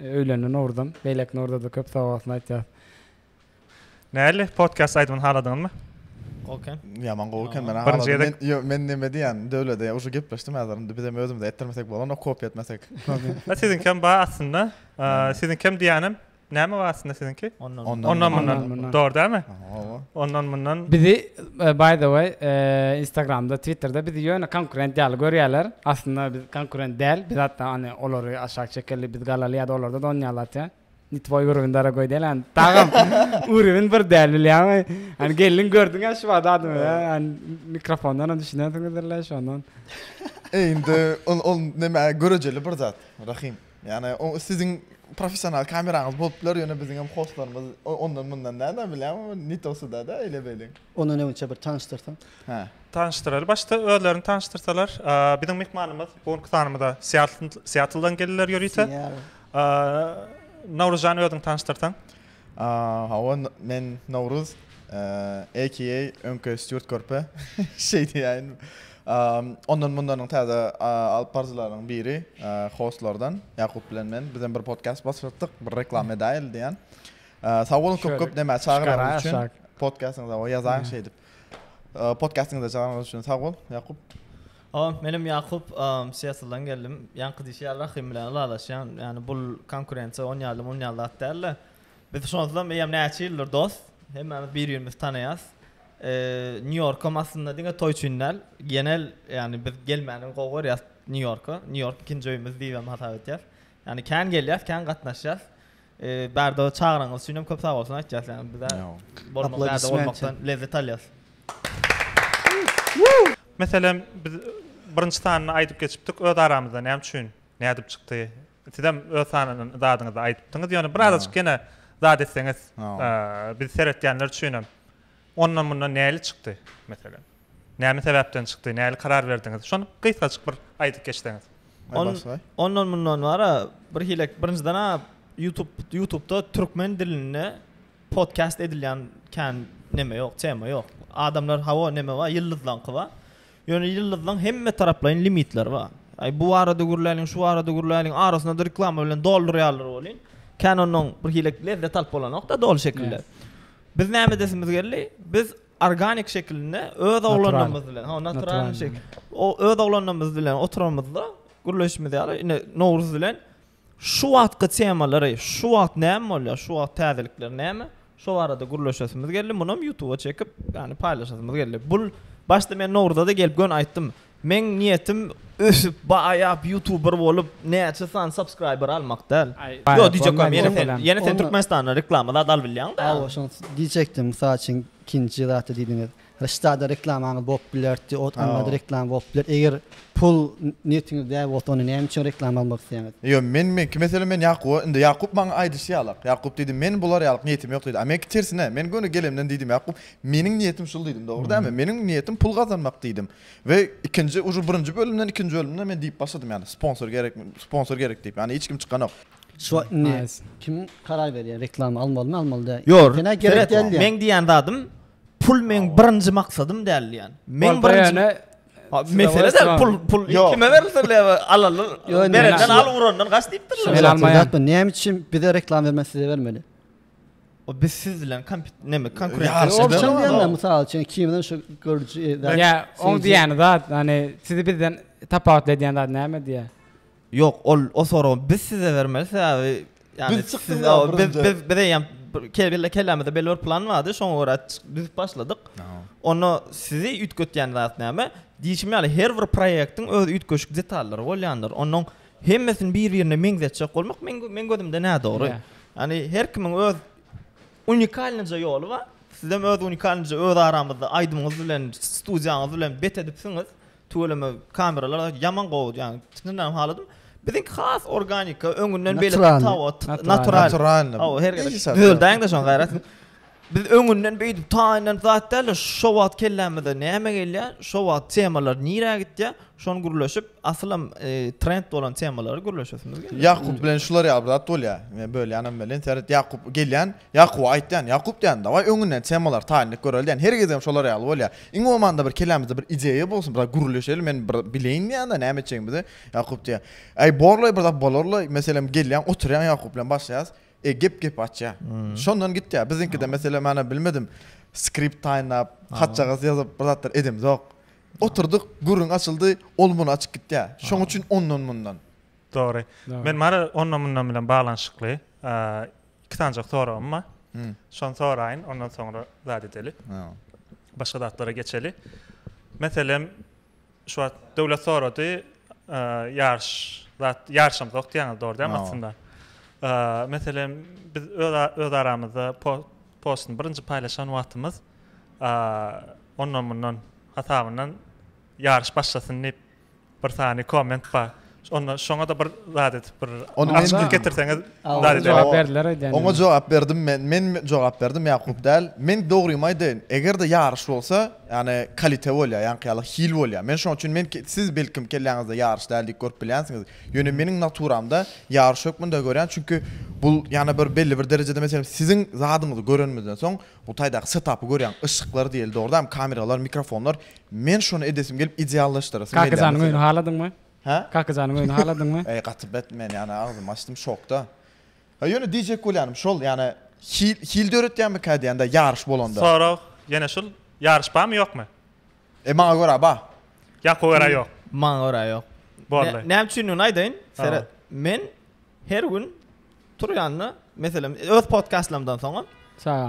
Öýlendi Nowruzam. Beýleki Nowruza-da köp sogabossun aýtýas. Näli podcast aýdymyny haladyňyzmy? Gowy eken. Ýaman gowy eken men Birinji halady. gezek- Men, ýo, men neme diýýän, Döwlede ýa, uje gepleşdim häzir indi bizem özümize etdirmesek bolanok, kopýa etmesek. Ha, siziňki hem bar aslynda. Aa, Siziňki hem diýýänem näme bar aslynda siziňki? Ondan. Ondan. Ondan mundan. Ondan, mundan. Dogry dälmi? Hawa. Ondan mundan. Bizi by the way instagramda twitterda bizi ýöne konkurent ýaly görýäler aslynda biz konkurent däl biz hatda ony olary aşak çekeli biz galaly ýada olarda da onýaly atýa ni twoý urovin dorogoý däl yani dagam urowin bir däl bilýäňmi yani geldiň gördüň ya şu wada adamy yani mikrofondan hem düşünýänsiňizdirle şondan eý indi ol ol näme görejeli bir zat rahim Ýagny o siziň professional kameraňyz bolup biler, ýöne biziň hem hostlarymyz ondan mundan däl-ä bilýän o ne to suda da eýle beýle. Ondan öňinçe bir tanyşdyrsaň. Hä. Tanyşdyraly. Başda özlerini tanyşdyrsalar. Biziň myhmanymyz bu günki sanymyza Seattle Seattle dan geldiler ýörite. Nowruzjan özüňi tanyşdyrsaň. Hawa, men Nowruz, AKA öňki Stýurt Körpe. Şeý diýäýin. Ondan-mundanyň täze alyp baryjylarynyň biri, hostlardan Ýakup bilen men. Bizem bir podkast başlatdyk, bir reklama edäýeli diýýän. Sag boluň köp-köp näme çagyranyňyz üçin. Podkastyňyza ýazaň şeýdip. Podkastyňyza çagyranyňyz üçin sag bol, Ýakup. O, menem Ýakup, Siýatldan geldim. Ýaňky diýşi ýaly Rahym bilen ylalaşýan. Ýagny bul konkurensiýa on ýaly mun ýaly zat dälde. Biz şonsuzam eýýäm näçe ýyldyr dost. Hemmämiz bir-birimizi tanaýas. Nýu-Ýorkam aslynda diňe toý üçin däl, genel ýagny biz gelmäni gowy görýäs Nýu-Ýorka. Nýu-Ýork ikinji öýümiz diýibem hasap edýäs. Ýani kän gelýäs, kän gatnaşýas. Bärde çagyraňyz üçin hem köp sag bolsun aýtýas. Ýani bize bolmak bärde bolmakdan lezzet alýas. Meselem biz birinji sanyny aýdyp geçipdik öz aramyzda näme üçin nädip çykdy sizem öz sanyny zadyňyzy aýdypdyňyz ýöne birazajyk ýene zat etseňiz biz seretýänler üçinem Ondan mundan näli çykdy, meselem? Näme sebäpden çykdy, näli karar berdiňiz? Şony gysgajyk bir aýdyp geçseňiz. Ondan mundan bar-a, birhili birinjiden-ä YouTube YouTube-da türkmen dilinde podcast edilýän kän neme ýok, tema ýok. Adamlar hawa neme bar, ýyldyzlaňky bar. Ýöne ýyldyzlaň hemmetaraplaýyn limitleri bar. Aý bu barada gürläliň, şu barada gürläliň, arasyny-da reklama bilen doldurýarlar welin, Canon-yň birhili lezzet alyp bolanok-da doly şekilde. Biz näme edesimiz geldi? Biz organik şekilinde öz oglanlarymyz bilen, hawa natural şekilde, öz oglanlarymyz bilen oturanymyzda gürleşimiz ýaly, ine Nowruz bilen Şu wagtky temalary, şu wagt näme bolýar, şu wagt täzelikler näme, şo barada gürleşesimiz geldi. Munam ýutuba çekip, ýagny paýlaşasymyz geldi. Bul başda men Nowruza-da gelip gön aýtdym. Meň niýetim ösüp, baýap, ýutuber bolup, näçe sany subscriber almak däl. Ýok, diýjek bolýan, ýene sen, ýene sen Türkmenistandan reklama zat alyp bilýäň-dä. Hawa, şoňa diýjekdim. Mysal üçin, ikinji zatda diýdiňiz. Reştada reklamaňyz bolup bilerdi, ot almada reklama bolup biler. Eger pul niýetiňiz däl bolsa, onda näme üçin reklama almak isleýäňiz? Ýok, men meňki meselem men Ýakuba, indi Ýakup maňa aýdyşy ýalak. Ýakup diýdi, men bular ýalyk niýetim ýok diýdi. A meňki tersine, men göni gelemden diýdim Ýakup, meniň niýetim şul diýdim, dogry dälmi? Meniň niýetim pul gazanmak diýdim. We ikinji ujy birinji bölümden ikinji bölümde men diýip başladym ýaly, sponsor gerek, sponsor gerek diýip. Ýagny hiç kim çykanok. Şu wagt indi kim karar berýär reklama almalymy, almaly däl. Ýor, sen-ä gerek däl diýýäň. Meň diýýän zadym Pul meň birinji maksadym däl diýen. Meň birinji Mesele de pul pul kime berilse bile alalar. Berenden al urandan gaç diýipdirler. Men almaýan. Näme üçin bize reklam bermän size bermeli? O biz siz bilen kompet näme konkurent. Ya o üçin diýende mysal üçin kimden şu görüji. Ya oň diýýäni zat, hani sizi bizden tapawutly edýän zat näme diýýär? Ýok, ol o soragy biz size bermeli, sebäbi ýagny siz biz biz eýýäm kelle kellämizde belli bir plan bardy, şoňa görä düzüp başladyk. Onda sizi üýtgetýän zat näme? Diýşim ýaly, her bir proýektiň öz üýtgeşik detallary bolýandyr. Onuň hemmesini bir-birine meňzetjek bolmak meň meň gözümde nädogry. Ýagny her kimiň öz unikalnyja ýoly bar. Sizem öz unikalnyja öz aramyzda aýdymyňyz bilen, studiýaňyz bilen bet edipsiňiz. Tüweleme kameralar ýaman gowy ýagny synlanyp haladym. Biziňki has organika öňünden beýle tawat natural. Hawa her gede gözleýäňde şoň gaýrat. Biz öňünden beýdip taýyndan zat däl şo wagt kellämize näme gelýär şo wagt temalar nirä gitýär şony gürleşip asylam e, trend bolan temalary gürleşesimiz gelýär. Ýakup bilen şular ýaly bir zat bolýar. Men bölýänem welin seret Ýakup gelýän Ýakuba aýtýan, Ýakup diýýän, dawaý öňünden temalar taýyn edip göreli diýýän, her gezegem şolar ýaly bolýar. Iň bolmanda bir kellämizde bir ideýa bolsun, bir zat gürleşeli, men bir bileýin diýýän-de, näme etjegimizi. Ýakup diýýär, Äý, borlaý, bir zat bolarlaý, meselem, gelýäň, oturýaň Ýakup bilen başlaýas, e, gep gepi açýar. Şondan gitýär. Biziňkide, meselem, ana, bilmedim, skript taýynlap, hatjagaz ýazyp, bir zatlar edemizok. Oturdyk, gürrüň açyldy, ol muny açyp gitýär. Şoň üçin ondan-mundan. Dogry. Men bary ondan-mundan bilen baglanyşykly, Iki sanjak soragym bar. Şony soraýyn, ondan soňra zat edeli. Başga zatlara geçeli. Meselem, şu wagt döwlet sorady, ýaryş, zat ýaryşymyz ýok diýýäňiz, dogry däl aslynda? Meselem, biz öz öz aramyzda postuny birinji paýlaşan wagtymyz, ondan mundan hasabyndan ýaryş başlasyn diýip Bir sany komment bar. Onda şoňada bir zat edip bir açyklyk getirseňiz zat edip. Jogap berdiler aýdýan. Oňa jogap berdim men. Men jogap berdim Ýakup däl. Men dogrymy aýdaýyn. Eger-de ýaryş bolsa, ýagny kalite bolýar, ýaňky ýaly hil bolýar. Men şonuň üçin men siz belkim kelläňizde ýaryş däl diýip görüp bilýänsiňiz. Ýöne meniň naturamda ýaryş hökmünde görýän. Çünki bu ýana bir belli bir derejede meselem siziň zadyňyzy görenimizden soň bu taýdaky setapy görýän. Yşyklar diýeli dogry dämi? Kameralar, mikrofonlar Men şony edesim gelip ideallaşdyrasym gelýär. Kakajanyň öýüni haladyňmy? Hä? Kakajanyň öýüni haladyňmy? Eý gaty bet men ýa ne agzymy açdym şokda. Ha ýöne diýjek bolýanym şol ýa-ne hil hil döretýänmikä diýende ýaryş bolanda. Sorag ýene şul ýaryş barmy ýokmy? E maňa görä bar. Ýakuba görä ýok. Maňa görä ýok. Boldy. Näme üçindigini aýdaýyn seret. Men Her gün turýanda, meselem, öz podkastlarymdan soňam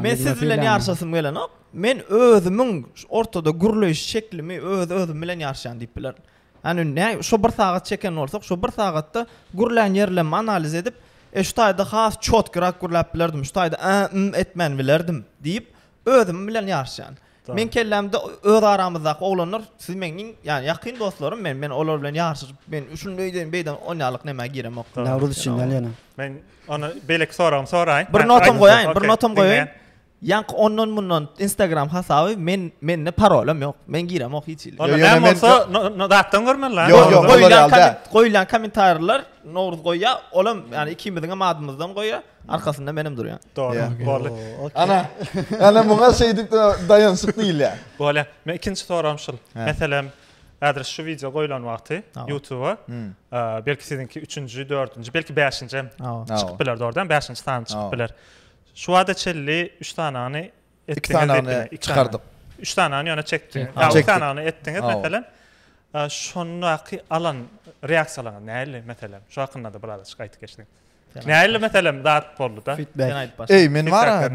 men siz bilen ýaryşasym gelenok. Men özümiň ortada gürleýiş şeklimi öz özüm bilen ýaryşýan diýip biler. Ýani ne şu bir sagat çeken bolsak, şu bir sagatda gürlän ýerlerimi analiz edip, e şu taýda has çotkyrak gürläp bilerdim, şu taýda a m etmän bilerdim diýip, Özüm bilen ýaryşýan. Meň kellämde öz aramyzdaky oglanlar siz meň iň ýany ýakyn dostlarym men. Men olar bilen ýaryşyp men şuny öýdäýin beýdäýin onýalyk nämä giremok. Nowruz üçin näl ýöne. Men ony beýleki soragymy soraýyn. Bir notam goýaýyn, bir notam goýaýyn. Ýaňky ondan mundan instagram hasaby men mende parolem ýok. Men giremok hiç hili. Onda näme bolsa datdan görmeli la. Ýok ýok goýlan kommentariýalar Nowruz goýýar. Olam ýani ikimiziňem adymyzdan goýýar. Arkasynda menem durýan. Dogry. Bolly. Ana. Ana muňa şeýdip daýanşyk diýilýär. Bolýar. Men ikinji soragym şul. Meselem, häzir şu wideo goýlan wagty YouTube-a hmm. belki siziňki 3-nji, 4-nji, belki 5-nji hem çykyp biler dogrudan, 5-nji sany çykyp biler. Şu wagta çelli 3 sanany etdiňiz. Çykardyk. 3 sanany ýöne çekdi. Ha, çekdi. sanany etdiňiz meselem. Şondaky alan reaksiýalaryňyz näli meselem? Şu hakynda-da biraz açyk aýdyp geçseň. Näli meselem zat bolduda. Eý, men wara.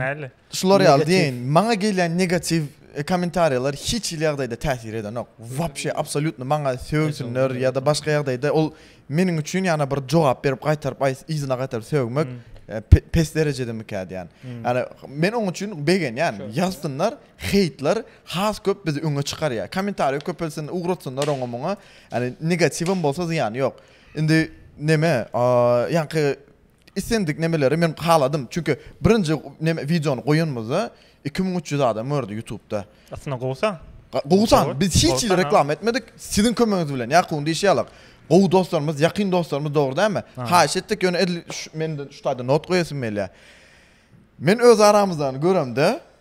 Şular ýaly diýen, maňa gelýän negatiw e, kommentariýalar hiç hili ýagdaýda täsir edenok. Wapşe absolýutno maňa sögsinler ýa-da başga ýagdaýda ol meniň üçin ýana bir jogap berip gaýtaryp aýs yzyna gaýtaryp sögmek hmm. e, pes derejede mikä diýen. Hmm. Ýani men oň üçin begenýän. Ýazsynlar, heýtler has köp bizi öňe çykarýar. Kommentariýa köpelsin, ugratsynlar oňa muňa. Ýani negatiwem bolsa zyýany ýok. Indi neme ýaňky islendik nemeleri men haladym çünki birinji neme wideony goýanymyzda iki müň üç ýüz adam gördi ýutubda Aslynda gowy san. Gowy san biz hiç hili reklama etmedik siziň kömegiňiz bilen ýakubyň diýşi ýaly gowy dostlarymyz ýakyn dostlarymyz dogry dälmi haýyş etdik ýöne edil şu mende şu taýda not goýasym gelýär men öz aramyzdan göremde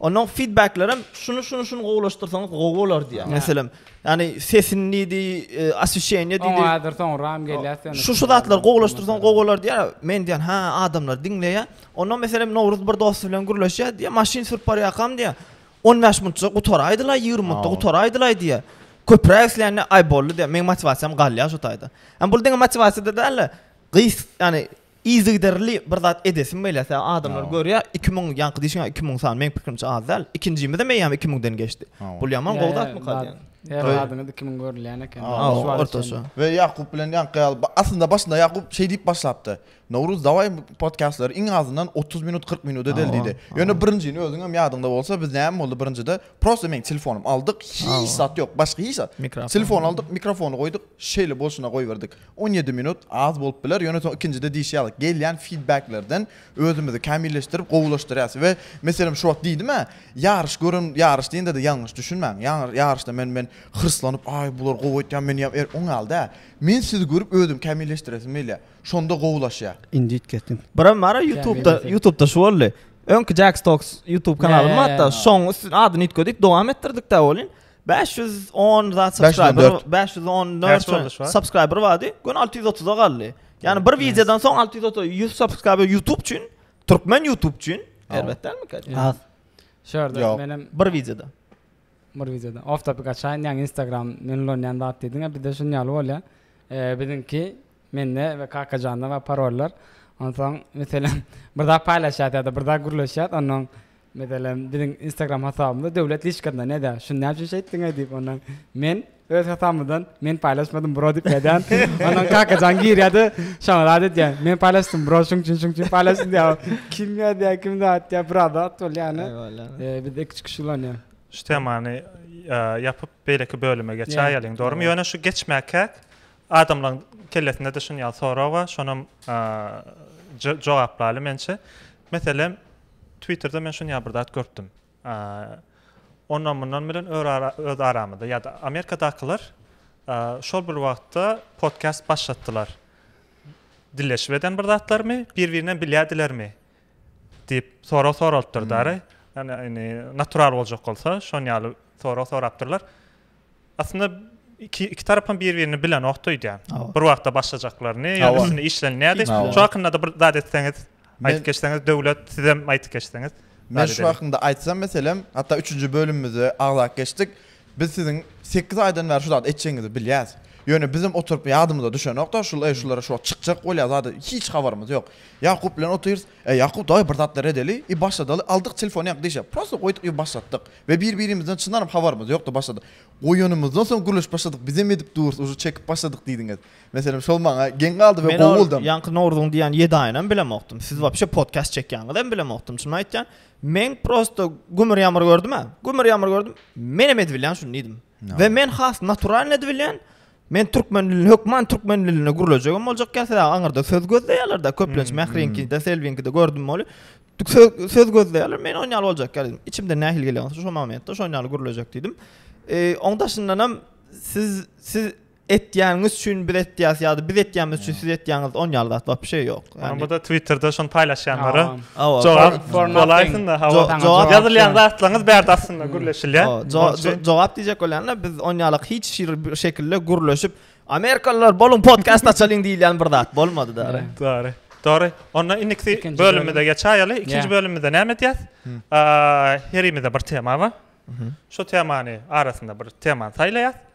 Ondan feedbacklerem şunu şunu şunu gowulaşdyrsaňyz gowy bolar diýýär. Meselem, ýani sesini diýdi, e, oswişeniýe diýdi. Oňa häzir soňram gelýär sen. Şu şu zatlar gowulaşdyrsaň gowy bolar diýýär. Men diýän, ha, adamlar diňleýär. Ondan meselem Nowruz bir dosty bilen gürleşýär diýýär, maşyn sürüp barýarkam diýýär. 15 minutça gutaraýdylaý, 20 minutda gutaraýdylaý diýýär. Köpräk isleýänler, aý boldy diýýär. Meň motiwasiýam galýar şu taýda. Ýani bul diňe motiwasiýa-da däl-de, gys, ýani Yzygiderli bir zat edesim gelýär. Adamlar görýär, iki müň, ýaňky diýşiň ýaly iki müň sany, meň pikirimçe az däl. Ikinjimizem eýýäm iki müňden geçdi. Bul ýaman gowy zatmyka diýýän. Her zadyňyz iki müň görülýän eken. Ortaça. We Ýakup bilen ýaňky ýaly, aslynda başynda Ýakup şeý diýip başlapdy, Nowruz, dawaý podkastlary iň azyndan otuz minut, kyrk minut edeli diýdi. Ýöne birinjini özüňem ýadyňda bolsa, biz näme boldy birinjide, prosta meň telefonym aldyk, hiç zat ýok, başga hiç zat. Telefon aldyk, mikrofony goýduk, şeýle bolşuna goýberdik. On ýedi minut az bolup biler, ýöne soň ikinjide diýşi ýaly, gelýän fidbeklerden özümizi kämilleşdirip, gowulaşdyrýas we meselem şu wagt diýdim-ä, ýaryş gören, ýaryş diýende-de ýalňyş düşünmäň, ýaryşda men men hyrslanyp, aý, bular gowy aýtýar, men ýa er, oň ýaly däl. Men sizi görüp özüm kämilleşdiresim gelýär. Şonda gowulaşýar. Indit kesdim. Biram bar-a ýutubda, ýutubda şu boldy. Öňki Jax Talks ýutub kanalym bar hatda, şoň üstüne adyny üýtgedik, dowam etdirdik-dä welin, 510 za subscriber, 514 subscriber vardy. Gün 630-a galdy. Yani bir videodan soň 630 100 subscriber YouTube üçin, türkmen YouTube üçin erbet dälmi kaç? Az. Şurada benim bir videoda. Bir videoda. Off topic açaýyn, yani Instagram men ulanýan zat diýdiň, bir de şuny ýaly bolýar. Eee biziňki Mende we Kakajanda bar parollar. Onsoň, meselem, bir zat paýlaşýas ýa-da bir zat gürleşýäs, onnoň, meselem, biziň Instagram hasabymyzda döwlet liçkasynda nädä, şuny näme üçin şeýtdiňaý diýip, onnoň, men öz hasabymdan, men paýlaşmadym bro diýip ýazýan. Onnoň Kakajan girýär-de, şoňa zat edýär, men paýlaşdym bro, şoň üçin, şoň üçin paýlaşdym diýýär. Kim ýazýar, kim zat edýär, biraz zat bolýar ýöne, bizde iki-üç kişi ulanýar. Şu temany ýapyp, beýleki bölüme geçäýeliň, dogrumy? Ýöne şu geçmäkäk, Adamlaryň kellesinde-de şuny ýaly sorag bar, şonam jogaplaýly mençe. Meselem, Twitterde men şuny ýaly bir zat görüpdim. Ondan-mundan bilen öz aramyzda ýa-da Amerikadakylar şol bir wagtda podcast başlatdylar. Dilleşip eden bir zatlarymy, bir-birinden bilýärdilermi? diýip sorag soralypdyr dary. Ýani natural boljak bolsa, şon ýaly sorag sorapdyrlar. Aslynda iki, iki tarap hem bir birini bilenokdy öýdýän. Bir wagtda başlajaklaryny, ýa üstüne işlenýärdi. Şu hakynda bir zat etseňiz, aýdyp geçseňiz, döwlet sizem aýdyp geçseňiz. Men şu hakynda aýtsam meselem, hatda üçünji bölümimize agzap geçdik. Biz siziň sekiz aýdan bäri şu zady etjegiňizi bilýäs. Ýöne bizem oturyp ýadymyza düşenokda, şul eý şulara şu wagt çykjak bolýar zady hiç habarymyz ýok. Ýakup bilen otyrys, Eý Ýakup dagy bir zatlar edeli i başladaly aldyk telefony ýaňky dişe prosta goýduk i başlatdyk we bir birimizden çyndanam habarymyz ýokdy başladyk goýanymyzdan soň gürleşip başladyk bizem edip durus uje çekip başladyk diýdiňiz meselem şol maňa geň galdy we gowy boldam. Men ol ýaňky Nowruzyň diýýän ýedi aýynam bilemokdym siz wapşe podkast çekýäňizem bilemokdym çynymy aýtýan men prosta gümür ýamyr gördüm a gümür ýamyr gördüm menem edibilýän şuny diýdim We men has naturalnydy bilýän. Men türkmen dilini, hökman türkmen dilinde gürlejegem boljak ýa sebäbi aňyrda söz gözleýärler-de, köplenç Mähriňkide, Selbiňkide gördüm weli, söz gözleýärler, men onuň ýaly boljak ýaly diýdim. Içimden nähili gelýän bolsa şo momentde şonuň ýaly gürlejek diýdim. Onuň daşyndanam siz, siz etýäniňiz üçin biz etýäs ýa-da biz etýänimiz üçin siz etýäňiz on ýaly zat wapşe ýok. Ýani bu-da Twitterde şony paýlaşýanlara jogap bolaýsynda hawa jogap ýazylýan zatlaryňyz bärde aslynda gürleşilýär. Jogap diýjek bolýanda biz on ýaly hiç bir şekilde gürleşip Amerikalylar boluň podcast açalyň diýilýän bir zat bolmady-da. Dogry. Dogry. Onda indiki bölümimize geçäýeli. Ikinji bölümimizde näme edýäs? Herimize bir tema bar. Şu temany arasynda bir temany saýlaýas.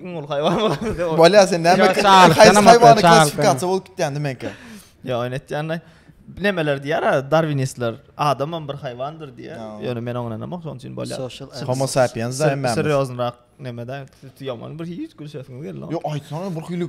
Iň uly haýwan bolupdyr. Bolýa sen näme? Ýa, çalyk, Haýsy tanamaz, haýwany çalyk, klassifikasiýa bolup gitýändi menkä. Ýa oýun etýände nemeler diýýär ha darwinistler adamam bir haýwandyr diýýär. Ýa. Ýöne men oňa ynanamok şonuň üçin bolýar. Social Sen- Homo sapiens da Ser- emmämiz. Serýoznyrak nemeden siz ýaman bir hiç gülşesiňiz geldi. Ýok aýtsaňa bir hili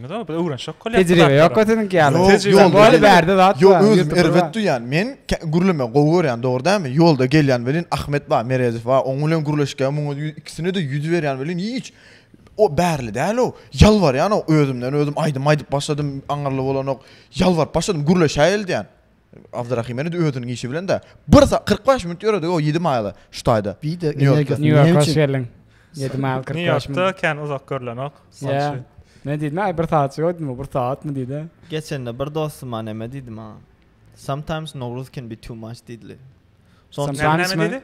Ýok, biz öwrenşek bolýar. Tejribe ýok-a siziňki ýaly. Ýok, ýol bärde zat bar. Ýok, özüm erbet duýýan. Men gürleme gowy görýän, dogry dälmi? Ýolda gelýän welin Ahmet bar, Meredow bar. Oň bilen gürleşgä muňa ikisine-de ýüz berýän welin hiç o bärli däl-ow. Ýalbarýan-ow, özümden özüm aýdym aýdyp başladym, aňyrly bolanok. Ýalbaryp başladym, gürleşäýeli diýýän. Abdurahim ene özüniň işi bilen de bir saat kyrk bäş minut ýöredi o ýedi maýyla şu taýda. Bir de energiýasy Nýu Ýorka hoş geldiň. Ýedi maýyl kyrk bäş minut. Nýu Ýorkda kän uzak görlenok. Men diýdim aý bir saat ýördim o bir saatmy diýdi. Geçende bir dostum neme diýdi maňa. Sometimes Nowruz can be too much diýdili. Sometimes mi?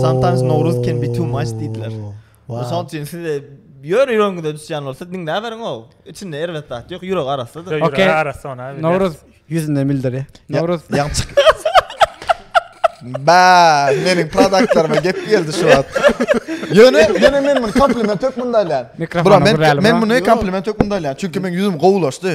Sometimes Nowruz can be too much diýdiler. Şoň üçin siz ýör ýüregiňize düşýän bolsa diňläberiň o. Içinde erbet zat ýok, ýürek arassadyr. Ýürek arassa ona. Nowruz ýüzünde mildir. Nowruz. Ba, meniň produktlaryma gep geldi şu wagt. Ýöne, ýöne men muny kompliment hökmünde alýan. Bura men men muny kompliment hökmünde alýan. Çünki meniň ýüzüm gowulaşdy.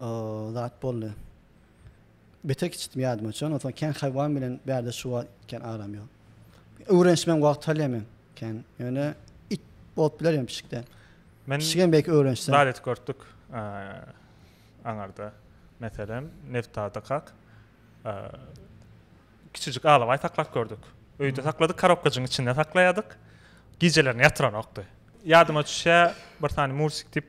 O zat boldy. Beter kiçitdim ýadyma çon. Onsoň kän haýwan bilen bärde şu wagt kän aram ýok. Öwrenişmem wagt alýar men kän. Ýöne it bolup biler ýöne pişikden. Men Pişigem belki öwrenişsem. Zat et görtdük aňarda. Meselem, Neftada kak kiçijik alabaý saklap gördük. Öýde sakladyk, karobkajygyň içinde saklaýardyk. Gijelerini ýatyranokdy. Ýadyma düşýär, bir sany Mursik diýip.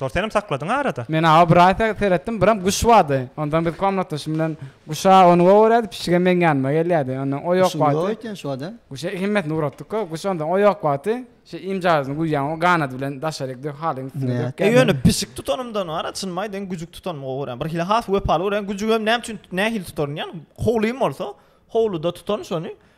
Dor senem sakladyň arada. Men awa bir aý seretdim biram guş bardy ondan biz komnatdaşym bilen guşa ony gowyrädi pişigem meň ýanyma gelýärdi ondan o ýok wagty guşa hemmesini ugratdyka guş ondan o ýok wagty şeý imjazyny guýýan o ganady bilen daşaryk dök halyň üstüne dök gel ýöne pişik tutanymdan arada çynymy aýdaýyn güjük tutanymy gowy görýän bir hili has wepaly görýän güjügem näme üçin nähili tutaryn ýa howlym bolsa howluda tutaryn şony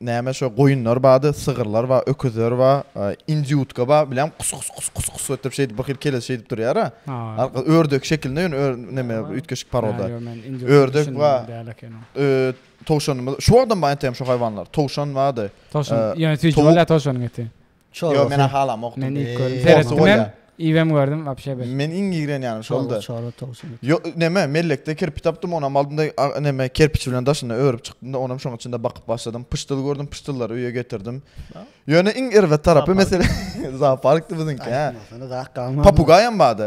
Näme şo goýunlar bady, sygyrlar ba, öküzler ba, indýutka ba, bileň kus kus kus kus kus ötdürip şeýdip bir hil keles şeýdip durýara. Arka ördek şekilinde ýöne ör neme üýtgeşik paroda. Ördek ba. Towşanymyz. Şuwagdam ba entegem şo haýwanlar. Towşan bady. Towşan, ýöne süýji bolýa towşanyň eti. Çorba. Yo mena halam okudum. Men ilk gördüm. Seretdim hem. Iwem gördüm vapşe bir. Men iň igren yani şolda. Çorba tavuk çorba. Yo neme mellekde kirpi tapdym onam aldymda neme kerpiç bilen daşynda örüp çykdymda onam şoň içinde bakyp başladym. Pyşdyl gördüm pyşdyllary öýe getirdim. Ýöne iň erbet tarapy mesele zooparkdy biziňki. Papugaýam bardy.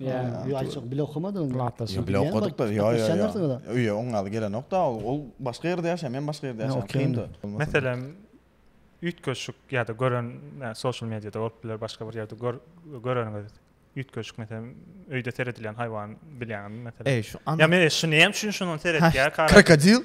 Ýa açyk bile okumadyň. Ýa bile okadykda. Ýa ýa ýa. Öýe oň ýaly gelenokda. Ol başga ýerde ýaşaýar, men başga ýerde ýaşaýar. Kyndy. Meselem, üýtgeşik ýa-da gören sosial mediýada bolup biler, başga bir ýerde göreniňiz üýtgeşik meselem öýde seredilýän haýwan bilýäňizmi meselem? Ýa men şuny näme üçin şuny seretýär? Krokodil.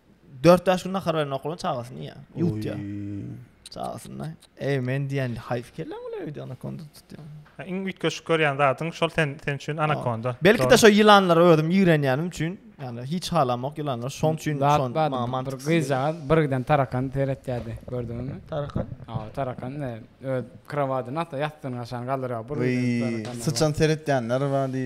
4-5 gün nahar berip okulan çagasyny ýa. Ýutýa. Çagasyny. Ey men diýen haýf kelle bu öýde anakonda tutýan. Iň üýtgeşik görýän zadyň şol sen sen üçin anakonda. Belki de şo ýylanlara özüm ýigrenýänim üçin, ýagny hiç halamok ýylanlar. Şoň üçin şon maman bir gyzjagaz birden tarakan seretýärdi. Gördüňmi? Tarakan. Ha, tarakan ne? Öz krowadyny atda ýatdyny aşan galdyrýar. Bir tarakan. Syçan seretýänler bardy.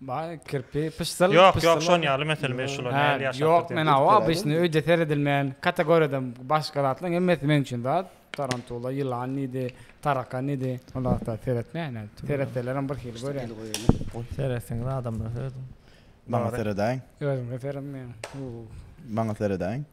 Baý kirpi pyşsyl Ýok, pyşsyl ýok, şon ýaly mesele, men şular Hä, nähili ýaşapdyr ýok, diýen. men hawa, obysny öýde seredilmeýän kategoriýadan başga zatlaryň hemmesi meň üçin zat, tarantula, ýylan diýdi, tarakan diýdi, ol zatlar seretmeýän hem, seretselerem bir hili görýän. Seretseňiz adamlara serediň. Maňa seredäýiň. Özüňize seredin ýaňy. Maňa seredäýiň.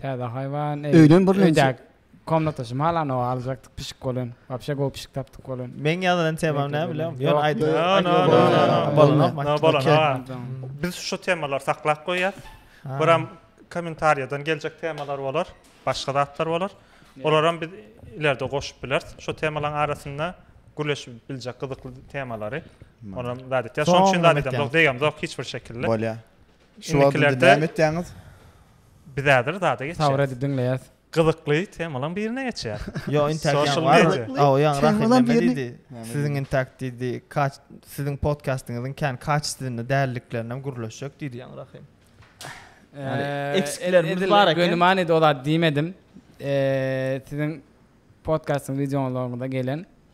Täze haýwan eý. Öýden bir lenji. Öýdäki komnata şmalan o aljakdyk pişik bolan. Wapşe gowy pişik tapdyk bolan. Meň ýazylan temam näme bilýäňmi? Ýöne aýdyp. Bolana bolana. Biz şu temalary saklap goýýas. Biram kommentariýadan geljek temalar bolar. Başga zatlar bolar. Olaram biz ilerde goşup bileris. Şu temalaryň arasynda gürleşip biljek gyzykly temalary. Olam zat etýäs. Şonuň üçin zat edýäs. Degem ýok hiç bir şekilde. Bolýar. Şu wagt indi näme etýäňiz? Biz häzir zada geçýäs. Tabrady diňleýäs. Gyzykly temalan birine geçýäs. Ýok, intäk ýaňy bardy. Aw, ýaňy Rahimleme diýdi. Siziň intäk diýdi, kaç siziň podkastyňyzyň kän kaçestwinde dälliklerinem gürleşjek diýdi ýaňy Rahim. Eksiklerimiz bar eken. Göni manyda o zat diýmedim. Siziň podkastyň wideolaryňyzda gelen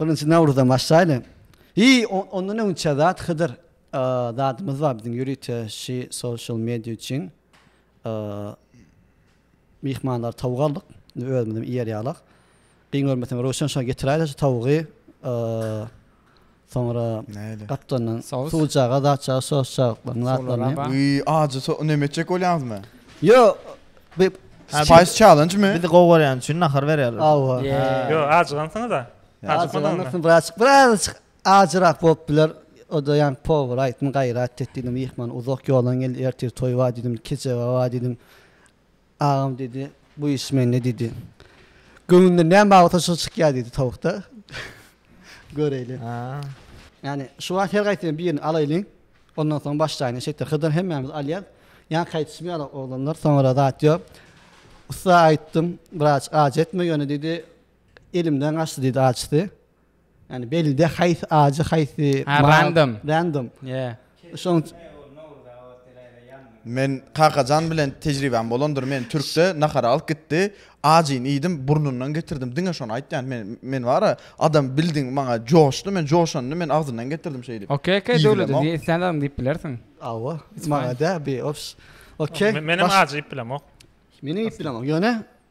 Birinji Nawruzdan başlaýly. Hi, ondan öňçä zat Hydyr zadymyz bar biziň ýörite şi social media üçin myhmanlary tawuk aldyk. Indi özümizem iýer ýalyk. Gyn görmeseň Röwşen şony getiräýdä şu tawugy. Soňra gapdandan suwjaga, zatjaga sosjagyklaryny, zatlaryny. Wiý, ajy so, näme etjek bolýaňyzmy? Ýo, bi, Spice challenge-mi? Bizi gowy görýäni üçin nahar berýärler. Hawa. Ýo, ajygansyňyz-a. Ajygansyňyz, braçk, birazajyk ajyrak bolup biler. O-da ýaňky powera aýtdym, gaýrat et diýdim, myhman uzak ýoldan geldi, ertir toý bar diýdim, kejebä bar diýdim. Agam diýdi, bu iş mende diýdi. Göwnünden näme bar bolsa şo çykýar diýdi towukda. Göreýli. Ýani şu wagt her gaýsyny birini alaýlyň. Ondan soň başlaýyny şeýtde hydyr hemmämiz alýas. Ýanka aýdyşmaýarlar oglanlar soňra zat ýok. Ussa aýtdym, wraç aç etme ýöne diýdi, elimden gaçdy diýdi açysy. Yani belide haýsy ajy haýsy random random yeah şoň Men Kakajan bilen tejribäm bolandyr meni türkde nahara alyp gitdi ajyny iýdim burnundan getirdim diňe şony aýtýan men men bara adam bildiň maňa joşdy men joşanda men agzyndan getirdim şeýdip Ok ok döwlet diýip islän zadyňy diýip bilersiň Awa maňa dä bi ops Ok menem ajy iýip bilemok Menem iýip bilemok ýöne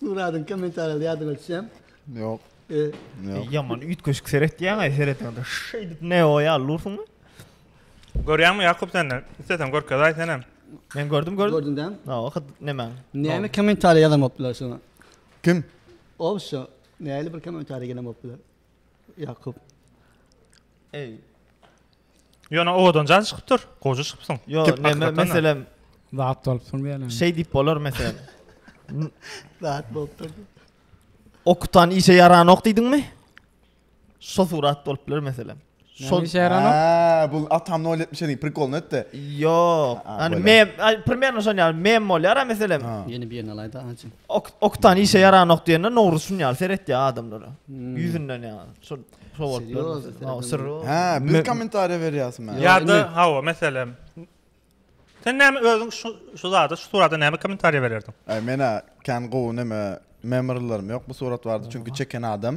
Muradyň kommentariýaly ýadyňa düşýämi? Ýok. Ýaman üýtgeşik seretýäň-aý, seretende şeýdip Neo ýaly dursuň-da. Görýäňmi Ýakup sende? Isleseň görkezaý senem. Men gördüm, gördüm. Gördüň dämi? Hawa, hut nemäň. Näme kommentariýa ýazan bolupdylar şoňa? Kim? Ol şu, nähili bir kommentariýa gelen bolupdylar? Ýakup. Eý. Ýöne owadan jan çykypdyr. Goja çykypsyň. Ýo, näme meselem. Zat bolupsyň diýen. Şeý diýip bolar meselem. Zat bolupdyr. Okutan işe ýaranok diýdiňmi? Şo surat bolup biler meselem. Şol Aa, bu atam nol etmiş edi, prikolny etdi. Yok. Yani mem, primjerno şon yani mem bolýar ha meselem. Yeni bir yerine alaydı ançı. Ok, oktan işe yaran ok diýende nowru şun yani seret ya adamlara. Hmm. Yüzünden yani. Şol şol bolup. Ha, sır. Ha, bir komentariýa berýärsin men. Ya da hawa meselem. Sen näme özüň şu şu zada, şu surata näme komentariýa bererdiň? Ay mena kan gowy näme memorylarym yok bu surat bardy çünki çeken adam.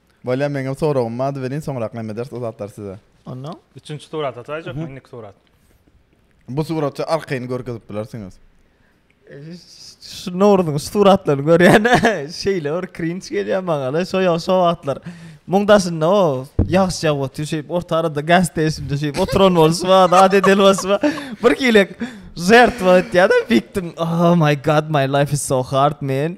Bolýa meňem soragym bardy welin soňrak näme ederis o zatlary size. Onda. Üçünji surat ataýjak mı indiki surat. Bu suratça arkaýyny görkezip bilersiňiz. Şu Nowruzyň şu suratlaryny görýän şeýle bir krinç gelýär maňala şo ýa şo wagtlar muň daşynda o ýagyş ýagyp otyr şeýip orta arada gaz station-da şeýip oturan bolşy bar zat eden bolşy bar bir hilek žertwa etýär-de fiktim oh my god my life is so hard man.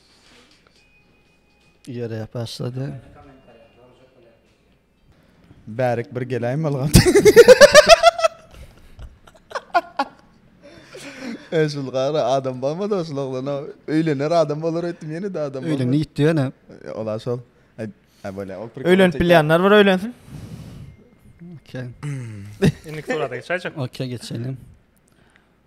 Ýere başlady. Bärik bir geläýim bolgan. Eşul gara adam barmy da şul oglana öýlener adam bolar öýtdüm ýene de adam. Öýlendi ýitdi ýene. Ola şol. Ha böyle. Öýlenip bilýänler bir öýlensin. Okey. Indi surata geçäýjek. Okey geçeýin.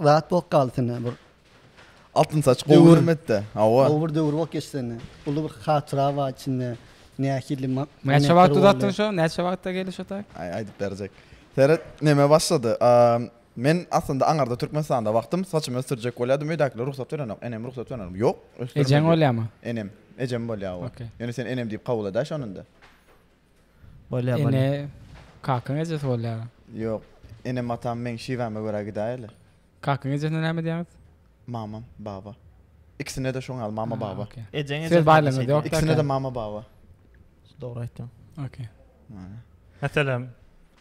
Zat bok galdy sende bir. Altyn saç gowy hörmetde. Hawa. Gowy bir döwür bok geçdi sende. Uly bir hatyra bar içinde. Nähili ma. Näçe wagt uzatdyň şo? Näçe wagtda geldi şo tak? Aý aýdyp berjek. Seret neme başlady. Men aslynda aňarda Türkmenistanda wagtym saçymy ösdürjek bolýadym öýdäkiler rugsat berenok. Enem rugsat berenok. Ýok ösdürme. Ejeň bolýamy? Enem. Ejem bolýa owa. Ýöne sen enem diýip kabul edä şonunda. Bolýar bolýar. Ene kakaň ejesi bolýar. Ýok. Enem atam meň şiwäme görä gidäýerler. Kakaň ejesine näme diýýäňiz? Mamam, baba. Ikisine-de şoň ýaly mama, baba. Okey. Ejeň Söz baýlygyňyz ýok. Ikisine-de mama, baba. Dogry aýtýaň. Okey. Meselem,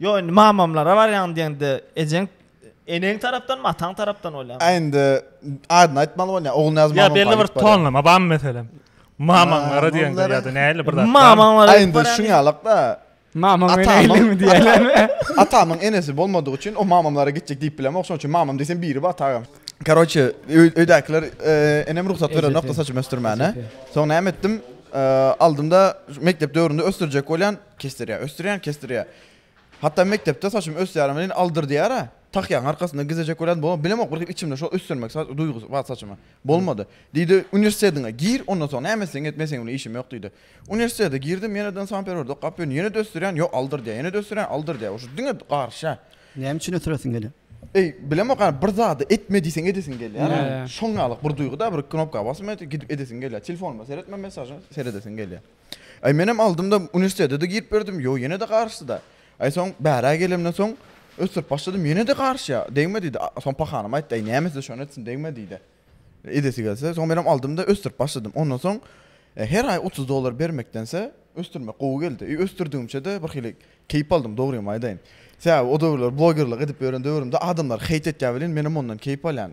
Ýok indi mamamlara barýaň diýende ejeň eneň tarapdanmy ataň tarapdan bolýar. Aý indi adyny aýtmaly bolýar. Ogulnyýaz mamam. Ýa belli bir tonlama barmy meselem? Mamaňlara diýende ýa-da nähili bir zat. Mamaňlara. Aý indi şuň ýalykda. Mamaň enegiňmi diýýärler. Atamyň enesi bolmadygy üçin o mamamlara gitjek diýip bilemok. Şonuň üçin mamam diýsem biri bar tagam. Karoçe öýdäkiler enem rugsat berenokdy saçymy ösdürmäne. Soň näme etdim? Aldymda mekdep döwründe ösdürjek bolýan. Kesdirýär, ösdürýän kesdirýär. Hatda mekdepde saçym ösýärem welin aldyr diýýär-ä. Takýaň arkasynda gizejek bolýan bolany bilemok bir içimde şol ösdürmek duýgusy bar saçymy. Bolmady. Diýdi uniwersitetiňe gir ondan soň näme etseň et men seň bilen işim ýok diýdi. Uniwersitete girdim ýeneden sanperwerdi okap ýörün ýene-de ösdürýän ýok aldyr diýýär ýene-de ösdürýän aldyr diýýär uşo diňe garşa. Näme üçin ösdüresiň gelýär? Eý bilemok ýa bir zady etme diýseň edesiň gelýär-ä. Şoň ýaly bir duýgy-da bir knopka basma gidip edesiň gelýär. Telefonuma seretme mesaja seredesiň gelýär. Aý menem aldymda uniwersitetede girip berdim ýok ýenede garyşdyda. Aý soň bärä gelemden soň ösdürip başladym ýenede garyşýa degme diýdi soň pahanam aýtdy aý nämesi şony etsin degme diýdi. Edesi gelse soň menem aldymda ösdürip başladym ondan soň her aý otuz dollar bermekdense ösdürmek gowy geldi i ösdürdigimçede bir hili keýp aldym dogrymy aýdaýyn sebäbi o döwürler blogerlik edip ýören döwrümde adamlar heýt etýä welin menem ondan keýp alýan.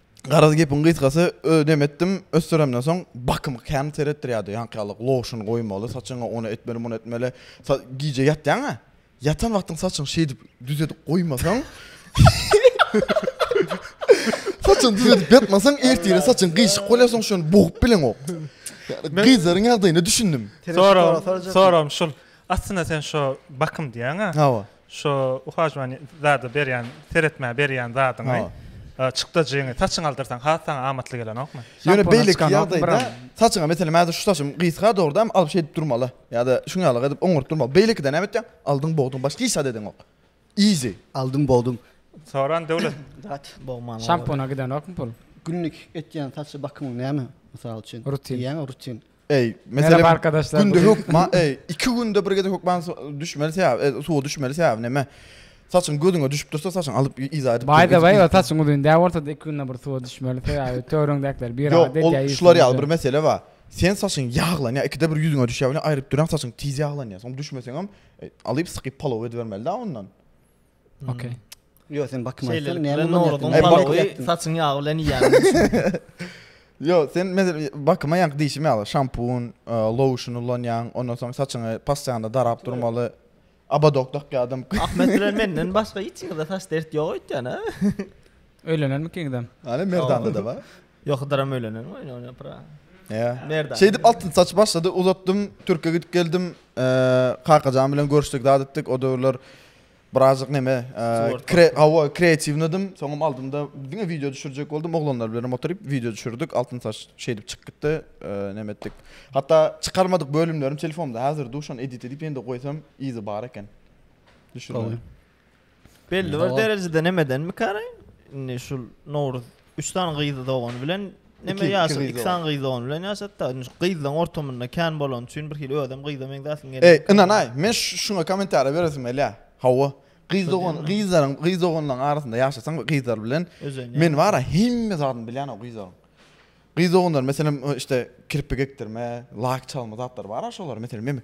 Garaz gepiň gysgasy özi dem etdim ösdüremden soň bakymy kän seretdirýärdi ýaňky ýaly lotion goýmaly saçyňa ony etmeli muny etmeli gije ýatýaňa ýatan wagtyň saçyňy şeýdip düz edip goýmasaň saçyňy düz edip ýatmasaň ertire saçyň gyýşyk bolýar soň şony bogup bileňok gyzlaryň ýagdaýyna düşündim soram soram şul aslynda sen şo bakym diýýäňa hawa Şu uhajman zada berýän seretmä berýän zadyňy çykdajyňy saçyňy aldyrsaň has saňa amatly gelenokmy? Ýöne beýle ýagdaýda saçyňa meselem häzir şu saçym gysga dogruda hem alyp şeýdip durmaly. Ýa-da şuň ýaly edip oňuryp durmaly. Beýlekide näme etýäň? Aldyň bogduň başga hiç zat edeňok. Easy. Aldyň bogduň. Soran döwlet. Zat bogman. Şampuna gidenokmy pul? Günlik etýän saç bakymyň näme? Mysal üçin. Rutin. Ýa rutin. Eý, meselem, arkadaşlar, günde hökma, eý, iki günde bir gede hökman düşmeli sebäp, e, suwa düşmeli sebäp näme? Saçyň gözüňe düşüp dursa, saçyň alyp iza edip. Baý da baý, saçyň uzyn dä bolsa, iki günde bir suwa düşmeli sebäp, törüňdäkiler bir ara dek ýaýy. Ýok, şular ýaly bir mesele bar. Sen saçyň ýaglanýar, ikide bir ýüzüňe düşýär, ýa aýryp duran saçyň tiz ýaglanýar. Soň düşmeseňem, e, alyp sykyp palaw edibermeli dä ondan. Okey. Yo sen bakma. Sen ne mi norodyň balygy saçyň ýagy bilen ýýan. Yo sen mesela bakma ýank diýşim ýaly şampun, e, lotion ulanýan, ondan soň saçyňy passiýanda darap durmaly. Abadok dakýadym. Ahmet bilen menden başga hiç kimde saç dert ýok öýtýän ha. Öýlenen mi kiňden? Ana merdanda da bar. Ýok hydyram öýlenen mi oýna oýna pra. Ýa. Merdan. Şey dip altyn saç başlady uzatdym türke gidip geldim. E, Kakajan bilen görüşdik zat etdik o döwürler Birazjyk neme, kre, hawa, kreatiwnydim. Soňam aldymda diňe wideo düşürjek boldum. Oglanlar bilenem oturyp wideo düşürdik. Altyn saç şeýdip çykyp gitdi. Neme etdik. Hatda çykarmadyk bölümlerim telefonymda häzir dur, şony edit edip ýene-de goýsam yzy bar eken. Düşürme. Belli bir derejede nemedenmi karaý? Indi şul Nowruz Üç sany gyz dogany bilen neme ýaşa, iki sany gyz dogany bilen ýaşatda. Gyzlaň ortamynda kän bolan üçin bir hili özem gyza meňzäsiň gelýär. Eý, ynanaý, men şuňa kommentariýa beresim gelýär. Hawa, gyz dogan, gyzlaryň, gyz doganlaryň arasynda ýaşasaň we gyzlar bilen men bara hemme zadyny bilýän o gyzlaryň. Gyz doganlar, meselem, işte kirpik ekdirme, lak çalma zatlar bar-a şolar, meselem, men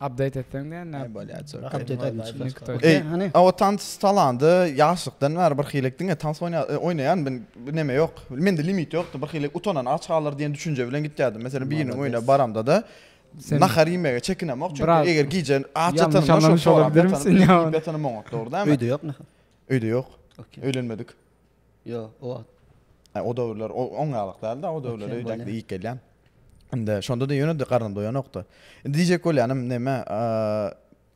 Update etseň diýen näme? Näme bolýar çöl. Update edin şuny iki toý. Ey, hany? Awa tans salanda ýaşlykdan bäri bir hilek diňe tans oýna oýnaýan men neme ýok. Mende limit ýokdy. Bir hilek utanan aç galar diýen düşünje bilen gitýärdim. Meselem biriniň öýüne baramda-da nahar iýmege çekinemok çünki eger gije aç ýatanymda şol sorap ýatanymda. Öýde ýok nahar. Öýde ýok. Öýlenmedik. Ýok, o wagt. O döwürler o oň ýalyk däldi-ä, o döwürler öýdäkde iýip gelýän. Indi şonda-da ýöne-de garnym doýanokdy. Indi diýjek bolýanym näme,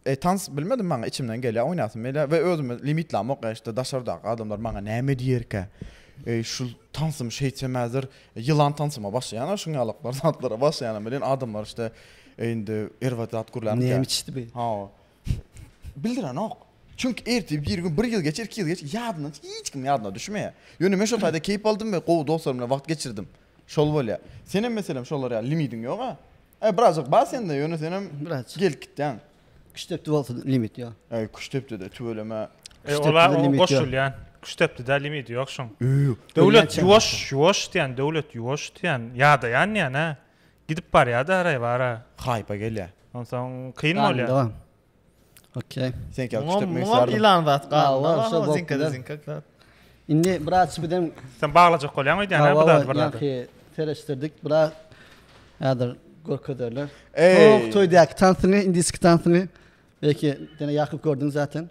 eý, tans bilmedim maňa içimden gelýär, oýnasym gelýär we özümi limitlämok, eý, şitde daşardaky adamlar maňa näme diýerkä, eý, şul tansym şeýtsem häzir ýylan tansyma başlaýan-a şuň ýalyklar zatlara başlaýanym bilen adamlar şitde indi erbet zat gürlänkä. Näme içdi bu? Hawa. Bildirenok. Çünki ertir bir gün, bir ýyl geçer, iki ýyl geçer, ýadyndan çykyp, hiç kimiň ýadyna düşmeýär. Ýöne men şol taýda keýp aldym we gowy dostlarym bilen wagt geçirdim. Şol bolýar. Senem meselem şolar ýaly limidiň ýog-a. E, birazajyk bar sende, ýöne senem Birazajyk. gelip gitýäň. Küştdepdi bolsa limit ýok. E, Küştdepdede tüweleme. E, ola Küştdepdede limit ýok. goşulýan. Küştdepdide limit ýok şoň. Öý. Döwlet Ölýänçäň ýuwaş, ýuwaş diýýän, döwlet ýuwaş diýýän, ýadaýan diýýän-ä. Gidip barýa-da araýbara. Haýpa gelýä. Onsoň kyn bolýa. Galyndyga. Okey. Seňki ýaly Muňam, küçültmek muňam islärdim. ýylan zat Hawa, galyndy bar, şo hawa, bok zinka-da bilen. zinka zat. Indi biraz bizem Sen baglajak bolýaň öýdýän-ä bu hawa zady bir zada. ýaňky sereşdirdik biraz häzir görkezerler. Eý! Soňky toýdaky tansyňy, indiski tansyňy belki diňe ýakyp gördüň zaten.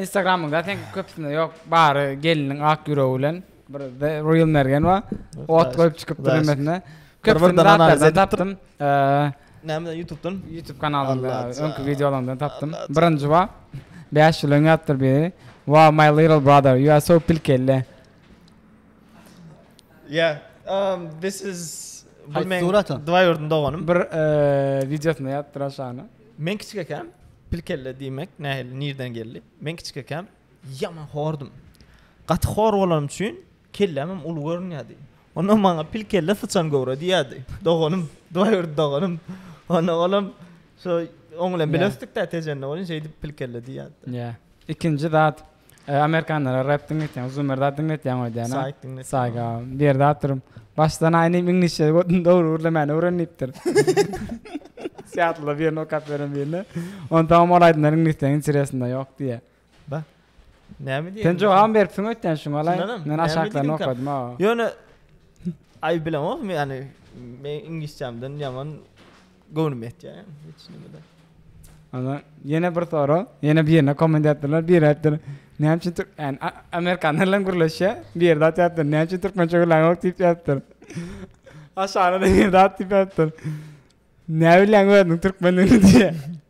Instagramyňda sen köpüsinde yok bary geliniň ak ýüregi bilen bir real mergen bar. Ot goýup çykyp durmesine. Köpüsinde analiz tapdym. Nämeden YouTube'dan? YouTube kanalynda öňki wideolarymdan tapdym. Birinji bar. 5 ýyl öňe atdyr biri. Wow my little brother you are so pilkelle. Yeah, um, this is bu Haýsy men surata? Dwaýurdyň doganym. Bir eee, wideosyna ýazdyr aşagyna. Men kiçik ekäm, pilkelle diýmek nähili, nirden geldi? Men kiçik ekäm, ýaman hordum. Gaty hor bolanym üçin kelläm hem uly görünýärdi. Onda maňa pilkelle syçan göwre diýýärdi. Doganym, Dwaýurdy doganym. Onda olam şo oň bilen bile Yeah. ösdük-dä tejende welin şeýdip pilkelle diýýärdi. Yeah. Ikinji zat. Eý amerikanlara rep diňletýäň uzun bir zat diňletýäň öýdýän a saýga bir ýerde oturyp başdan aýa indi iňlisçe dogry gürlemäni öwren diýipdir syýatlyda birini okap beren birine onda tamam ol aýdymlar iňlisden interesinde ýok diýe ba näme diýeň sen jogabam beripsiň öýtýän şuňa laý men aşaklaryny okadym a ýöne aý bilemok men ýani men iňlisçämden ýaman Göwnüm ýetýär ýa hiç nimede. Ana ýene bir sora, ýene bir ýerine komment atdylar, biri aýtdylar, näme üçin türk, ýani a- amerikanlar bilen gürleşýär, bir ýerde atyapdyr, näme üçin türkmençe gürlän ýok diýip ýazypdyr. Aşagyna-da bir zat diýip ýazypdyr. Näbilýäň özüniň türkmendigini diýýär.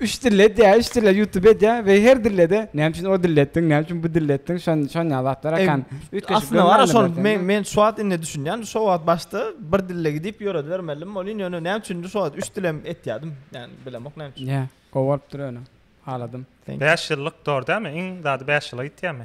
Üç dilde edýä, üç dilde ýutube edýä we her dildede näme üçin o dilde etdiň, näme üçin bu dilde etdiň, şon şon ýaly zatlar akan. Üýtgeşik Aslynda bar görmändir şol belki, men men şu wagt indi düşünýän şo wagt başda bir dilde gidip ýöredibermeldim welin ýöne näme üçindir şo wagt üç dilem etýädim ýani bilemok näme üçin. Ýa gowy bolupdyr ýöne haladym. Bäş ýyllyk dor dämi iň zady bäş ýyla gitýämi.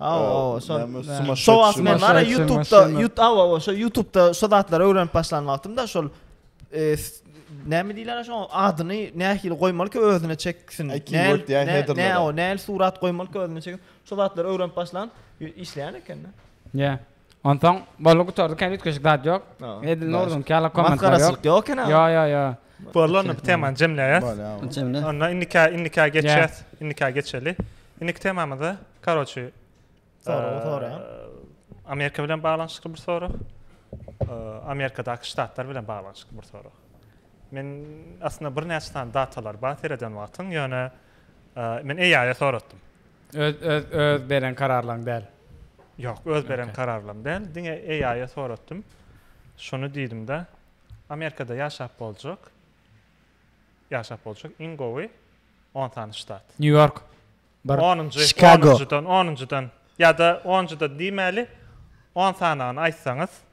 Aw, aw, şol. Şol wagt men bar YouTube-da, YouTube, aw, aw, şol YouTube-da şu zatlary öwrenip başlan wagtymda şol näme diýler şoň adyny nähili goýmaly ki özüne çeksin. Näme, näme surat goýmaly ki özüne çeksin. Şu zatlary öwrenip başlan işleýän eken. Ýa. Onsoň boldy gutardy kän üýtgeşik zat ýok. Edil Nurdynyňky ýaly kommentler ýok. Masgaraçylyk ýok eken-a. Ýo ýo ýo. Boldy onda bu temany jemleýäs. Bolýa bu. Jemle. Onda indikä indikä geçýäs. Indikä geçeli. Indiki temamyzda karoçi Soragy soraýan. Amerika bilen baglanyşykly bir sorag. Amerikadaky ştatlar bilen baglanyşykly bir sorag. Men aslynda birnäçe sany datalar bar sereden wagtyň ýöne men AI-a soratdym. Öz öz öz beren kararlaň däl. Ýok öz beren kararlam däl diňe AI a soratdym şuny diýdimda Amerikada ýaşap boljak ýaşap boljak iň gowy on sany ştat. New York bir Onunjy Chicago. onunjydan onunjydan ýada onunjydan diýmäli on sanagyny aýtsaňyz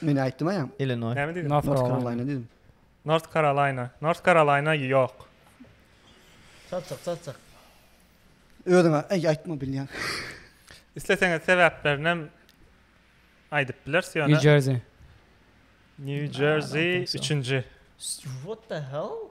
Men aýtdym aýam. Illinoý. Näme diýdim? North Carolina diýdim. North Carolina. North Carolina ýok. Çatjak, çatjak. Özüň aý aýtma bilýän. Isleseňiz sebäplerini hem aýdyp bileris ýöne. New Jersey. New Jersey üçünji. What the hell?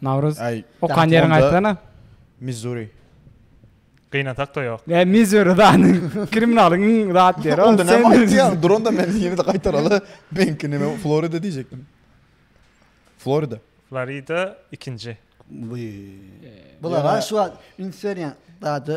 Nawruz. Aý. Okan ýeriňi aýtsana. Missuri. Gynasak-da ýok. Ä Missuri zany. Kriminalyň iň zat ýeri. Onda näme aýtýaň? Dur onda men ýene-de gaýtaraly. Meniňki näme? Florida diýjekdim. Florida. Florida ikinji. Bulara şu wagt üns berýän zady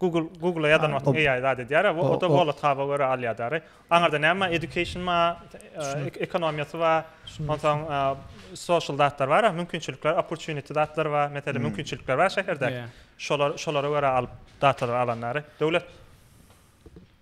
Google Google ýadan wagtyň AI zat edýär, a o da wallet haba görä alýar dary. Aňarda näme bar? Education bar, ekonomiýasy bar, onsoň social zatlar bar, a mümkinçilikler, opportunity zatlar bar, meselem mümkinçilikler bar şäherde. Şolar şolara görä alyp datalary alan dary. Döwlet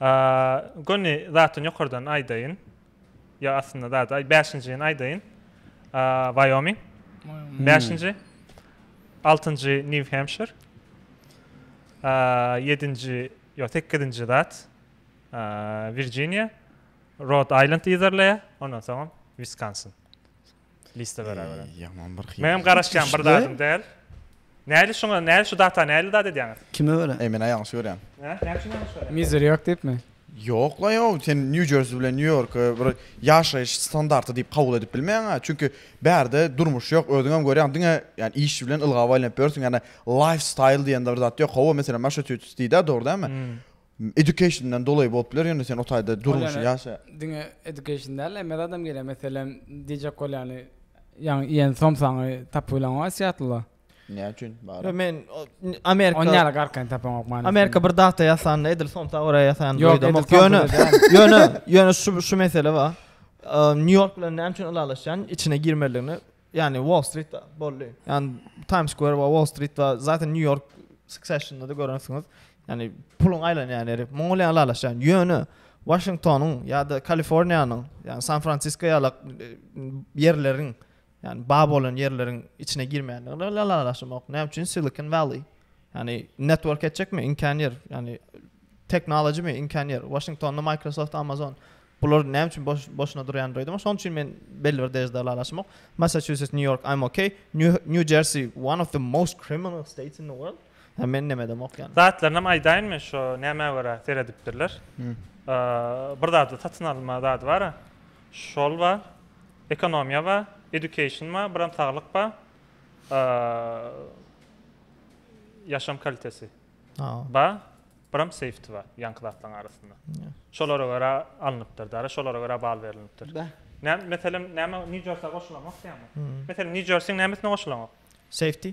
A göni zatyn ýokardan aýdaýyn. Ýa aslynda zady aý bäşinjini aýdaýyn. A Wyoming. Bäşinji. Altynjy New Hampshire. A ýedinji ýok sekizinji zat. A Virjiniýa. Rhode Island yzarlaýa. Ondan soňam Wiskonsin. Liste bera bera. Ýaman bir hil. Menem garaşýan bir zadym däl. Näli şuňa näli şu data näli dat edýäňiz? Kime görä? Eý men ýalňyş görýän. Hä? Näme üçin ýalňyş görýäň? Mizeri ýok diýipmi? Ýok la ýok, sen New Jersey bilen New Yorky bir ýaşaýyş standarty diýip kabul edip bilmeýäňä. Çünki bärde durmuş ýok, özüňem görýäň diňe ýani iş bilen ylgaw aýlanyp ýörsüň. Ýani lifestyle diýen bir zat ýok. Hawa, meselem Massachusetts diýdä, dogry dälmi? Education'dan dolaý bolup biler ýöne sen o taýda durmuşy ýaşa. Diňe education däl emez adam geliýär meselem DJ Kolýany ýaňy iýen somsaňy tapyp bileňok Asýatlyda. Näme üçin bar? Ýok men Amerika. Onda ýaly garkaýyny tapaňok many. Amerika bir dagda ýasanda edil somsa görä ýasan duýdamok. Ýöne ýöne ýöne şu şu mesele bar. Nýu Ýork bilen näme üçin ylalaşýan içine girmelidigini Ýagny Wall Street boldy. Ýagny Times Square we Wall Street we zaten New York Succession-da görensiňiz. Ýagny puluň aýlanýan ýeri. Muňa bilen ylalaşýan. Ýöne Washingtonyň ýa-da Kaliforniýanyň, ýagny San Fransisko ýalak ýerleriň, ýagny bar bolan ýerleriň içine girmeýändigini bilen ylalaşamok. Näme üçin Silicon Valley? Ýagny network etjekmi? Iňkän ýer. Ýagny technology mi? Iňkän ýer. Washingtonda Microsoft, Amazon. Bular näme üçin boş-boşuna durýan öýdüm. Şonuň üçin men belli bir derejede ylalaşamok. Massachusetts, New York, I'm okay. New Jersey, one of the most criminal states in the world. Ha men näme demok ýaly. Zatlarynam aýdaýynmy şo nämä görä seredipdirler. Bir zady satyn alma zady bar. Şol bar. Ekonomiýa bar, education bar, biram saglyk bar. Ýaşam kalitesi. Bar. Biram safety bar ýaňky zatlaryň arasynda. Şolara görä alnypdyr dara, şolara görä bal berlinipdir. Nä, meselem, näme New Jersey goşulanok diýýäňmi? Meselem, New Jersey nämesine goşulanok? Safety.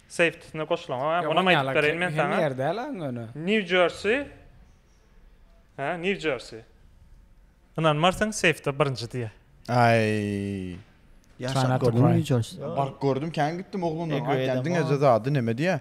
Safety-sine goşulanok, hä? Onam aýdyp bereýin men saňa. Ýer däl aň ony. New Jersey. Hä, New Jersey. Ynanmarsyň, safety birinji diýýär. Aý. Ýaşap gördüňmi New Jersey? Baryp gördüm, kän gitdim oglanlaryň aýtýan diňe zady näme diýýär?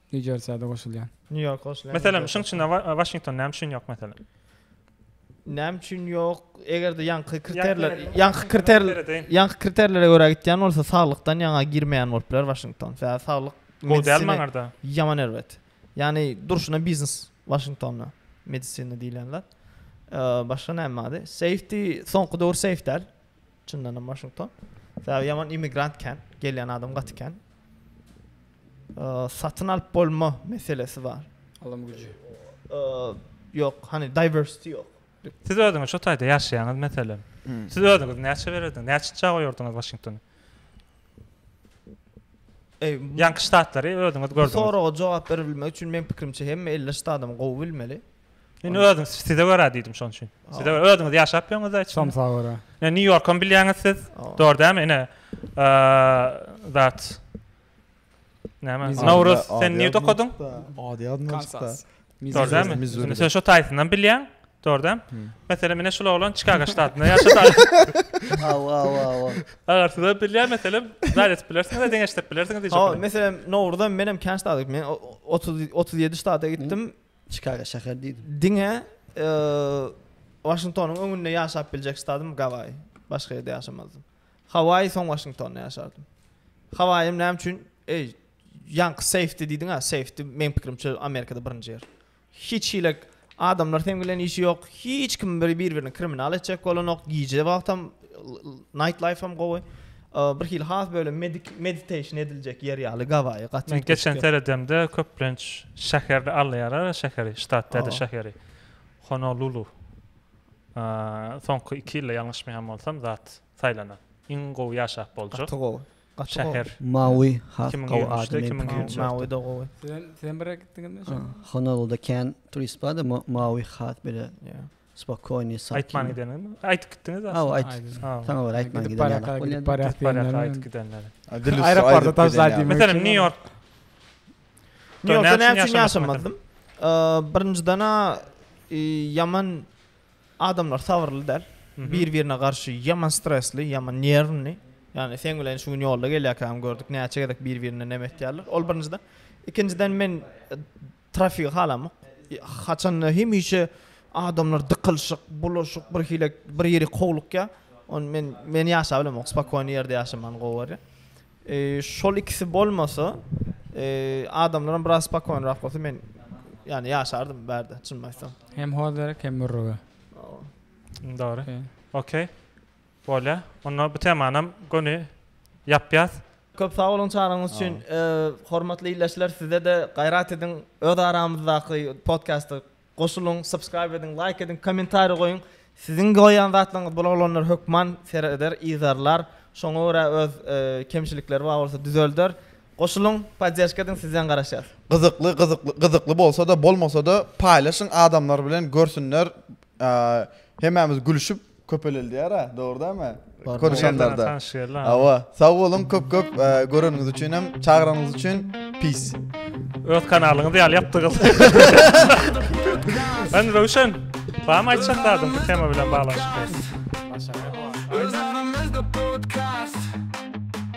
New Jersey-de goşulýan. New York goşulýan. Meselem, şuň içinde Washington näme üçin ýok meselem? Näme üçin ýok? Eger-de ýaňky kriterler, ýaňky kriter, ýaňky kriterlere görä gitýän bolsa, saglykdan ýaňa girmeýän bolup biler Washington. Sebäbi saglyk gowy däl maňarda. Ýaman erbet. Ýani durşuna biznes Washingtonda medisina diýilýän zat. Başga näme bady? Safety, soňky döwür safe däl. Çyndanam Washington. Sebäbi ýaman immigrant kän, gelýän adam gaty kän. Satyn alyp bolma meselesi bar. Alym güji. Ýok, hani diversity ýok. Siz özüňiz şu taýda ýaşaýaňyz meselem. Hmm. Siz özüňiz näçe bererdiň? Näçe çaga goýardyňyz Washingtony? Eý, ýanky ştatlary özüňiz gördüňiz. Soraga jogap berilmek üçin men pikirimçe hem 50 ştatym gowy bilmeli. Men özüm size görä diýdim şonuň üçin. Size özüňiz ýaşap ýöňüzde hiç. Şonuň saga görä. Ne New Yorkam bilýäňiz siz. Dor dämi? Ene. Zat. Näme? Nauruz sen niýe dokadyň? Ady ýadymdan çykdy. Dor dämi? Sen şo taýsyndan bilýäň. Dor dämi? Meselem, meni şul oglan Çikago ştatynda ýaşaýar. Aw, aw, aw. Agar siz bilýän meselem, zat edip bilersiňiz, deň eşitip bilersiňiz diýjek. Ha, meselem, Nauruzam menem kän ştatyk. Men 30 37 ştata gitdim. Çikago şäher diýdim. Diňe Waşingtonyň öňünde ýaşap biljek stadym Gawaýy. Başga ýerde ýaşamazdym. Hawaýy soň Waşingtonda ýaşardym. Hawaýym näme üçin? Eý, ýaňky safety diýdiň-ä, safety meň pikirimçe Amerikada birinji ýer. Hiç hili adamlar seň bilen işi ýok, hiç kim bir-birini kriminal etjek bolanok, gije wagtam night life-am gowy. Bir hili has böyle meditation ediljek ýer ýaly Gawaýy gaty. Men geçen seredemde köplenç şäherde alýarlar şäheri ştat däde şäheri Honolulu. Soňky iki ýylda ýalňyşmaýan bolsam zat saýlanan. Iň gowy ýaşap boljak. Gaty gowy. Şäher. Maui has gowy adam. Maui da gowy. Sen sen bire gitdiňizmi? Honoluluda kän turist bar da Maui has bile. Spokojny, sakyn. Aýtman gidenimi? Aýdyp gitdiňiz aslynda. Hawa, aýdyp. Saňa görä aýtman giden ýaly. Baraka gidip barýas diýenler. Aýdyp gidenler. Aeroportda tabşyr diýmek. Meselem, Nýu-Ýork. Nýu-Ýorkda näme üçin ýaşamazdym? Birinjiden-ä ýaman adamlar sabyrly däl. Bir-birine garşy ýaman stresli, ýaman nerwni. Ýagny seň bilen şu gün ýolda gelýärkäm gördük näçe gezek bir-birine näme etýärler. Ol birinjiden. Ikinjiden men Trafigi halamak. Haçanda hemişe adamlar dykylyşyk, bulaşyk, bir hile bir ýeri kowlukýar. Ony men men ýaşap bilemok. Spokony ýerde ýaşaman gowy bolýar. Eee şol ikisi bolmasa, eee adamlaram biraz spokonyrak bolsa men ýani ýaşardym bu ýerde çynymy aýtsam. Hem hoz gerek, hem mürrüge. Dogry. Okey. Bolýar. Onda bu temanam göni ýapýas. Köp sag boluň çagyrygyňyz üçin. Hormatly ildeşler sizede gaýrat ediň öz aramyzdaky podkasta goşulyň subscribe ediň laýk ediň kommentariýa goýuň siziň goýýan zatlaryňyz bul oglanlar hökman sereder yzarlar şoňa görä öz kemçilikleri bar bolsa düzelder goşulyň poddežka ediň sizden garaşýas. Gyzykly gyzykly gyzykly bolsada bolmasada paýlaşyň adamlar bilen görsünler hemämiz gülüşip. Köpelildýär-ä, dogry dämi? Konuşanlarda. Hawa, sag boluň köp köp göreniňiz üçin hem, çagyranyňyz üçin. Peace. Öz kanalyňyz ýaly ýapdygyz. Sen Röwşen, barmy aýtjak zadyň bu tema bilen baglanyşykly?